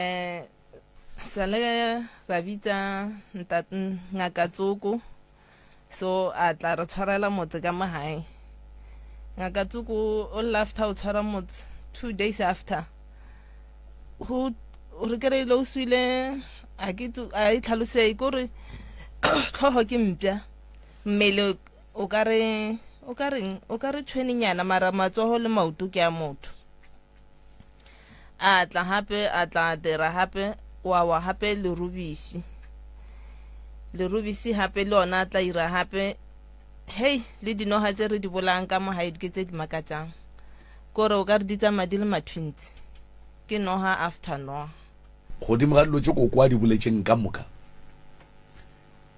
eh sale ra bitsa ngaka tsoko so a tla re tshwarela motse ka magae ngaka tsoko o lafta o tshwara motse two days after go re kry-ile o swile a e tlhalose ko re tlhogo ke mpša mmele o ka re o ka reng o ka re tshwenenyana mara matsogo le maoto ke a motho a tla gape a tla dira gape wa wa gape lerubisi lerubisi gape le ona a tla ira gape hei le dinoga tse re di bolayang ka mo gaedi ke tse di makatsang kore o ka re di tsamaya di le mathwintsi ke noga after noga godimo ga dilo tse koko a di boletseng ka moka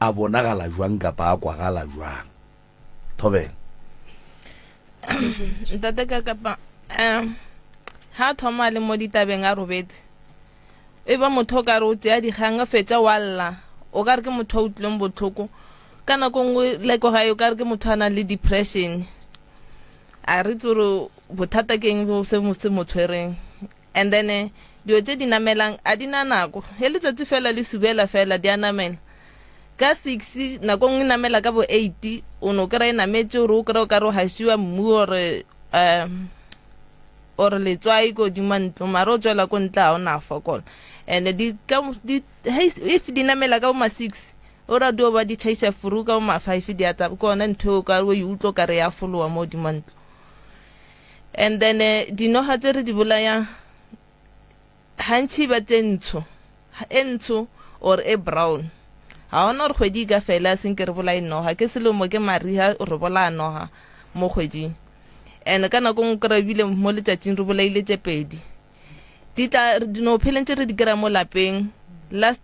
a bonagala jwang kapa a kwagala jwang thobela ntate ka kapa um ha thoma le mo ditabeng a robetse e ba motho o ka re o tseya dikgang a fetsa wa lla o ka re ke motho o utlwileng botlhoko ka nako nngwe leko gae o ka re ke motho a nang le depression a re tse gore bothata ke eng se mo tshwereng and then eh, dilo tse di namelang a di na nako e letsatsi fela le subela fela di a namela ka six nako nngwe namela ka bo eight o ne o kry-e e nametse ore o kry-e o kare o gasiwa mmu ore um or letswai ko dima ntlo mare o tswela ko ntle ga o na fokola and di ka di if di namela ka bo ma six o ra dio ba di chaisa furu ka bo ma five di a tsaba ke one ntho e o ka o e utlo kare ya folowa mo dima ntlo and then eh, dinoga tse re di bolayang gantšhi ba tse ntsho e ntsho or e brown ga ona gore kgwedi ka fela seng ke re bolae noga ke selemo ke mariga re bolaya noga mo kgweding and ka nako ngwe kry ebile mo letsatsing re bolaile tse pedi di tla dino pheleng tse re di kry mo lapeng last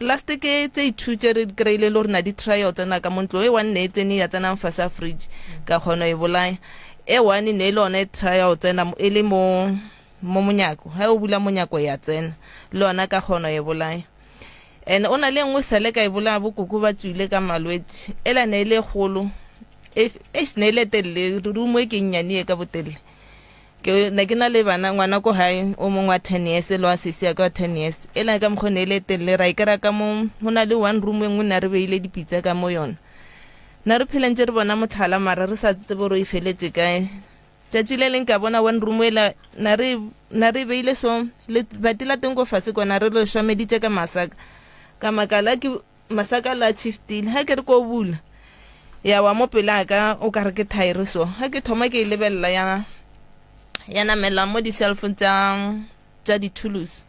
last ke tse ithu tse re kry-ile le rena di-trial tsena ka mo ntlong e one ne e tsene ya tsenang fa sa fridge ka kgono e bolaya e one ne e le one trial tsena e le mo mo monyako ha o bula monyako ya tsena le ona ka kgono e bolaya and o na le nngwe sale ka e bolaya bokoko ba tswile ka malwetse ela ne e le golo e ne e le telele rumo e ke nnyane e ka botelele ke ne ke na le bana ngwana ko gae o mongwe wa ten years le wa sisi ya ka wa ten years e lane ka mokgone e le telele ra ikera ka mo go na le one room e nngwe na re beile dipitsa ka mo yona na re pheleng tse re bona motlhala mara re sa tsetse boro e feletse kae tsatsi le leng ka bona one room ela na re na re beile so le bati la teng go fatshe kona re le shwameditse ka masaka ka makala ke masaka la chiftile ha ke re ko bula ya wa mo pela ka o ka re ke thaere so ha ke thoma ke e lebelela ya ya namela mo di cell phone tsa tsa di tools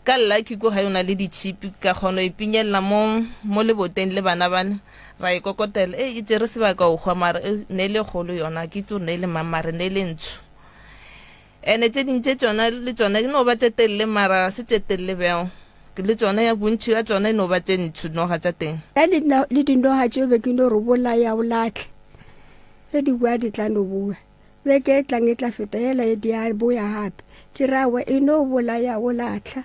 ka lucky ko ga yona le di chip ka kgono e pinyella mo mo leboteng le bana bana ra e kokotela e itse re sebaka o gwa mara e, ne le golo yona ke tso ne le mamare ne le ntsho ene tse ding tse tsona le tsona di no ba tse telele mara se tse telele bjao le tsona ya bontšhi ya tsona e no ba tse ntsho dinoga tsa teng ya le dinoga tseo be ke no re bolaya o latlhe ge di bua di tla no bua beke e tlang e tla feta ela e di a boya gape ke rawa e no bolaya o latlha